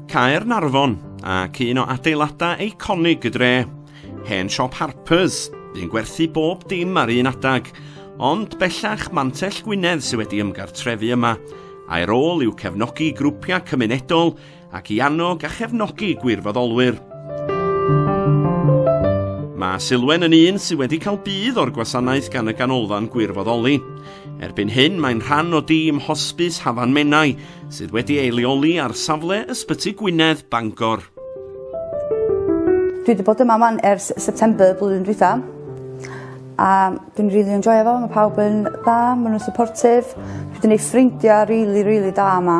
Caernarfon, ac un o adeiladau eiconig y dre. Hen siop Harpers, yn gwerthu bob dim ar un adag, ond bellach Mantell Gwynedd sydd wedi ymgartrefu yma, a'i rôl yw cefnogi grwpiau cymunedol ac i annog a chefnogi gwirfoddolwyr. Mae Silwen yn un sydd wedi cael budd o'r gwasanaeth gan y Ganolfan Gwirfoddoli. Erbyn hyn, mae'n rhan o dîm Hosbis Hafan Menai, sydd wedi ei leoli ar safle Ysbyty Gwynedd, Bangor. Dwi wedi bod yma man ers September blwyddyn dwytha. A dwi'n rili really enjoy efo, mae pawb yn dda, maen nhw'n supportive. Dwi wedi gwneud ffrindiau rili, really, rili really da yma.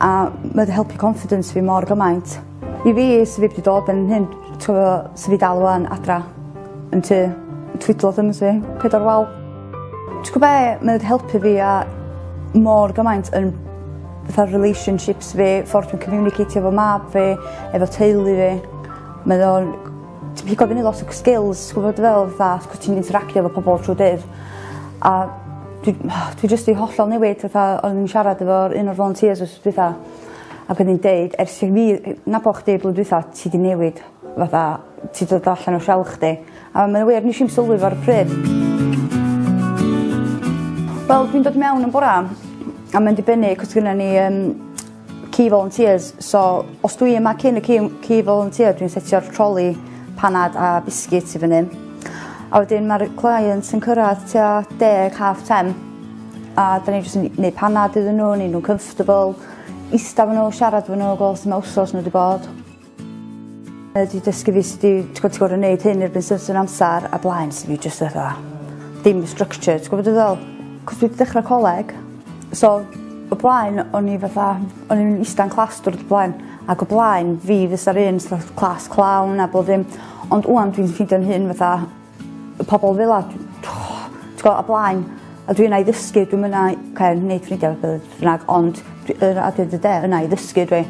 A mae wedi helpu confidence fi mor gymaint. I fi, sydd fi wedi dod yn hyn, ti'n gwybod, sydd fi dal wan adra yn tu, twydlo ddim yn si, pedwar wal. T'gwo' be' mae o 'di helpu fi a mor gymaint yn fatha relationships fi ffordd dwi'n communiceitio efo mab fi efo teulu fi. Mae o'n t- pigo fyny lot o c- skills t'gwbo dwi feddwl fatha cos ti'n interacio efo pobol trw dydd a dwi dwi jyst 'di hollol newid fatha o'n i'n siarad efo'r un o'r volunteers wsnos dwetha ac o'n i'n deud ers i fi yy nabo chdi blwyddyn dwitha ti 'di newid. fatha ti dod allan o shell chdi. A mae o wir nesh i'm sylwi fo ar y pryd. Wel dwi'n dod mewn yn bora a mae'n dibynnu 'c'os gynna ni yym key volunteers so os dwi yma cyn y key key volunteer dwi'n setio'r troli panad a biscuits i fyny. A wedyn ma'r clients yn cyrradd tua deg half ten a 'dan ni jyst yn neu' panad iddyn n'w neu' nw'n comfortable ista efo n'w siarad efo n'w gwel' su' ma' wsos n'w 'di bod. Mae wedi dysgu fi sut i t'god ti gor'o' neud hyn erbyn certain amsar a blaen so fi jyst fatha dim structured t'gwo' be' dwi feddwl? 'C'os dwi 'di dechra coleg so o blaen o'n i fatha o'n i'n ista'n class diwrnod o blaen ac o blaen fi fysa'r un so't of class clown a bob ddim ond ŵan dwi'n ffeindio'n hun fatha Y pobl fel a, ti'n gwybod, a blaen, a dwi yna i ddysgu, dwi'n yna i okay, wneud ffrindiau beth bynnag, ond dwi yna at the day, yna i ddysgu dwi.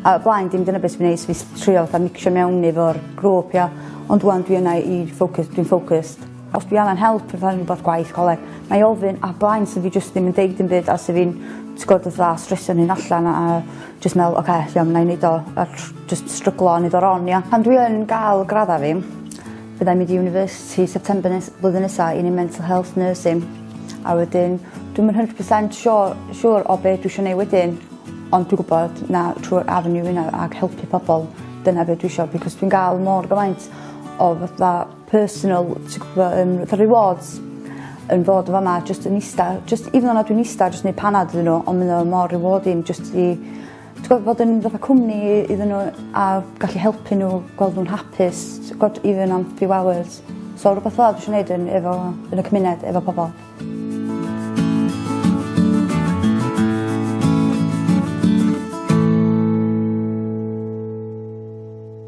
A y blaen, dim dyna beth sy'n gwneud, fi trio fatha mixio mewn efo'r grŵp, ia. Ond wan, dwi yna i ffocws, dwi'n ffocused. Os dwi angen help, fatha rhywbeth gwaith, coleg, na i ofyn, a blaen, sy'n fi jyst ddim yn deud yn byd, a sy'n fi'n, ti'n gwybod, fatha stresio'n hyn allan, a, a jyst meddwl, oce, okay, iawn, na i wneud o, a jyst stryglo a wneud o ron, ia. Pan dwi yn gael gradda fi, Fydda i'n mynd i university September nes- blwyddyn nesa i neu' mental health nursing a wedyn dwi'm yn hundred percent sio- siŵr o be' dwi isio neu' wedyn ond dwi gwbod na trw'r avenue ynna ag helpu pobol dyna be' dwi isio because dwi'n ga'l mor gymaint o fatha personal ti gwbo yym fatha rewards yn fod yn fa' 'ma jyst yn ista jyst even though na dwi'n ista jyst neud panad iddyn n'w on' ma' o mor rewarding jyst i Tibod, bod yn fatha cwmni iddyn nhw a gallu helpu n'w gweld nw'n hapus t'god even am few hours. So rwbeth fel 'a dwi isio neud yn efo yn y cymuned efo pobol.